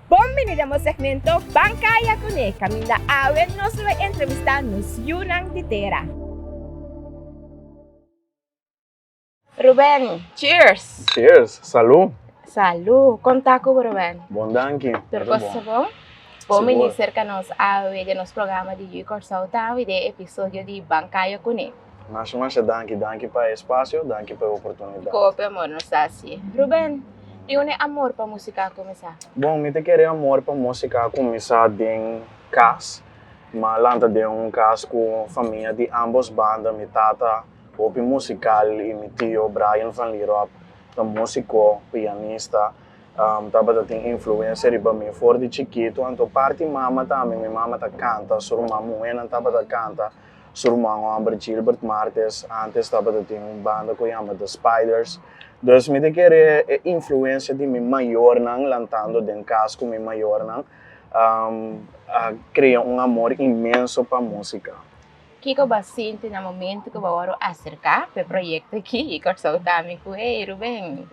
Bon bini den bo segmento Ban Kaya Kuné. Kaminda awe nos lo bai entrevistá nos yunan di tera. Ruben, cheers! Cheers! Salú! Salú! Kon ta ku bo Ruben? Bon danki! Tur kos ta bon? Bon bini serka nos awe den nos programa di Yu Kòrsou Tawe den e episodio di Ban Kaya Kuné. Masha masha danki, danki pa e spasio, danki pa e oportunidat. Kope amor nos ta haci. Ruben, di unda e amor pa musica a cuminsa? Bon, mi ta kere amor pa musica a cuminsa den cas. Mi a lanta den un cas cu famia di ambos banda. Mi tata hopi musical y mi tio Brian van Lierop ta musico, pianista. Tabata tin influencia riba mi for di chikito. Anto parti mama tambe, mi mama ta canta, su ruman muhernan tabata canta. Su ruman homber Gilbert Martes antes tabata tin un banda cu yama The Spiders. Dus mi ta kere e influencia di mi mayornan lantando den cas cu mi mayornan a crea un amor inmenso pa musica. Kico bo a sinti na momento cu bo worde acerca pa e proyecto aki y Corsou ta ami cu, Hey Ruben,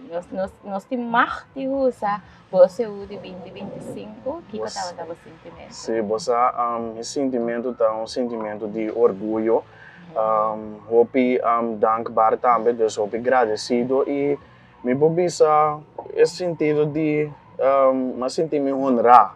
nos tin mag di usa. Doce u di binti binti sinku, kiko tabata bo sintimentu? Si bo sa, mi sintimentu ta un sintimentu di orguyo, hopi dankbar tambe, dus hopi gradesido. I mi por bisa e sintido di mi sinti mi honrá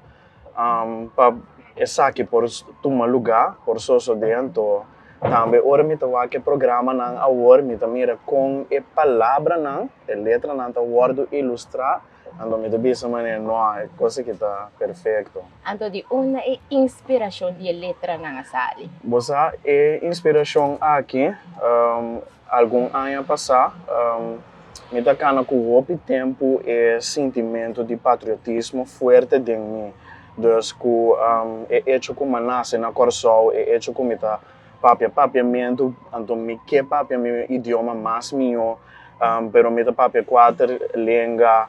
pa esaki por tuma lugá, por sosodé anto. Tambe ora mi ta wak e programanan awor, mi ta mira kon e palabranan, e letranan ta wòrdu ilustrá. Anto mi ta bisa manera no a e cosa ki ta perfecto. Anto di unda e inspiracion di e letranan a sali? Bo sa e inspiracion aki? Algun aña pasa mi ta cana cu hopi tempo e sintimento di patriotismo fuerte den mi, dus cu e echo cu manase na Corsou, e echo cu mi ta. Papia papiamentu, anto mi ke papia mi idioma mas mió, pero mi ta papia kuater lenga.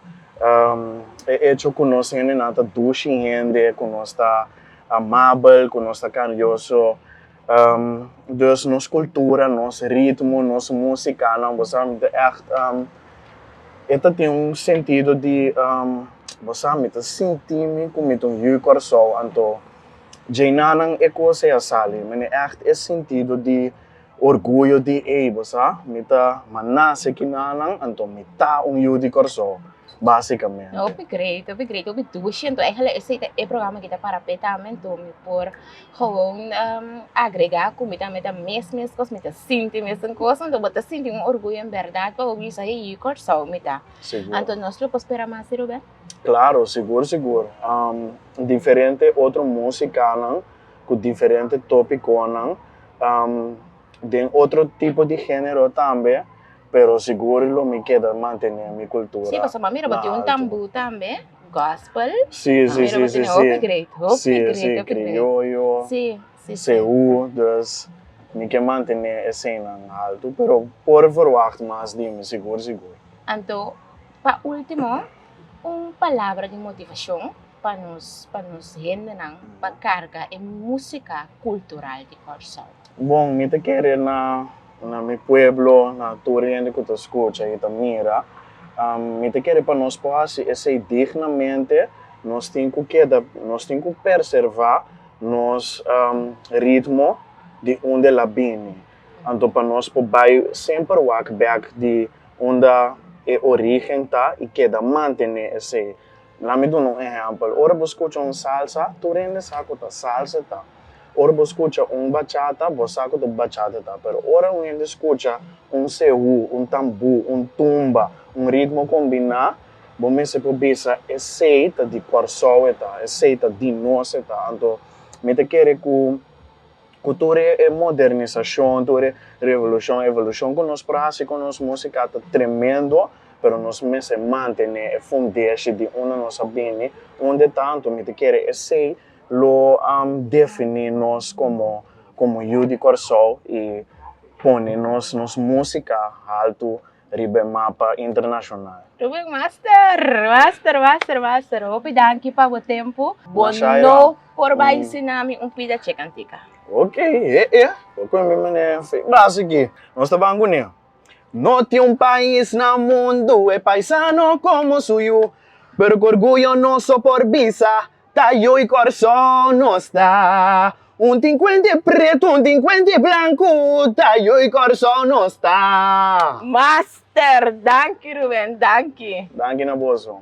E echo ku nos hendenan ta dushi hende, ku nos ta amabel, ku nos ta karioso, dus nos kultura, nos ritmo, nos musikanan, bo sa, mi ta ègt, e ta tin un sentido di, bo sa, mi ta sinti mi ku mi ta un yu Kòrsou, anto. Djei na nan e cos ey a sali. Mi ne echt e sentido di orguyo di ey, bo sa. Mi ta manase ki na nan, anto mi ta un yu di Corsou, basicamente. Hopi great, hopi great, hopi dushi. Anto eigenlijk esey ta e programa ki ta para pe tambe, anto mi por gewoon agrega cu mi tambe ta mes mes cos, mi ta sinti mes un cos. Anto bo ta sinti un orguyo en berdad pa bo bisa e yu Corsou mi ta. Anto nos lo por spera mas, Rubén? Claro, sigur sigur. Diferente otro musicanan cu diferente topiconan, den otro tipo di genero tambe, pero sigur lo mi keda mantene mi cultura na alto. Sí, pasobra mira bo tin un tamboer tambe, gospel, mira bo tin hopi great, hopi great, hopi great. Criollo, seú, dus mi ke mantene e scenanan alto, pero por verwacht mas di mi, sigur sigur. Anto. Pa ultimo, un palabra di motivacion pa nos pa nos hendenan pa carga e musica cultural di Corsow. Bon, mi ta kere na na mi pueblo, na tur hende ku ta skucha i ta mira, mi ta kere pa nos por hasi esei dignamente, nos tin ku keda, nos tin ku perservá nos ritmo di unda el a bini. Anto pa nos por bai semper wak bèk di unda e origen ta y keda mantene esey. Laat me duna un ehempel. Ora bo scucha un salsa, tur hende sa cu ta salsa ta. Ora bo scucha un bachata, bo sa cu ta bachata ta. Pero ora un hende scucha un sehu, un tambu, un tumba, un ritmo combina, bo mester por bisa esey ta di Corsou e ta, esey ta di nos e ta. Anto, mi ta kere cu. Ku tur e modernisashon, tur e revolushon, evolushon ku nos por hasi ku nos músika ta tremendo, pero nos mester mantené e fundeshi di unda nos a bini. Undetantu, mi ta kere esei lo definí nos komo, komo yu di Kòrsou i pone nos, nos músika haltu. riba e mapa internashonal. Ruben Master! Master, master, master! Hopi danki pa bo tempu. Bo no por bai sin nami un pida che kantika. Ok, e e. Bo kue mi manera en fe. Basi ki. Nos ta ban kuné. No tin un pais na mundu e paisano komo su yu, pero ku orguyo nos so por bisa. Ta yo i kòrsou nos ta Un tin kuent e pretu un tin kuent e blanku Ta yo i kòrsou nos ta Master! Danki Ruben, danki. Danki na boso.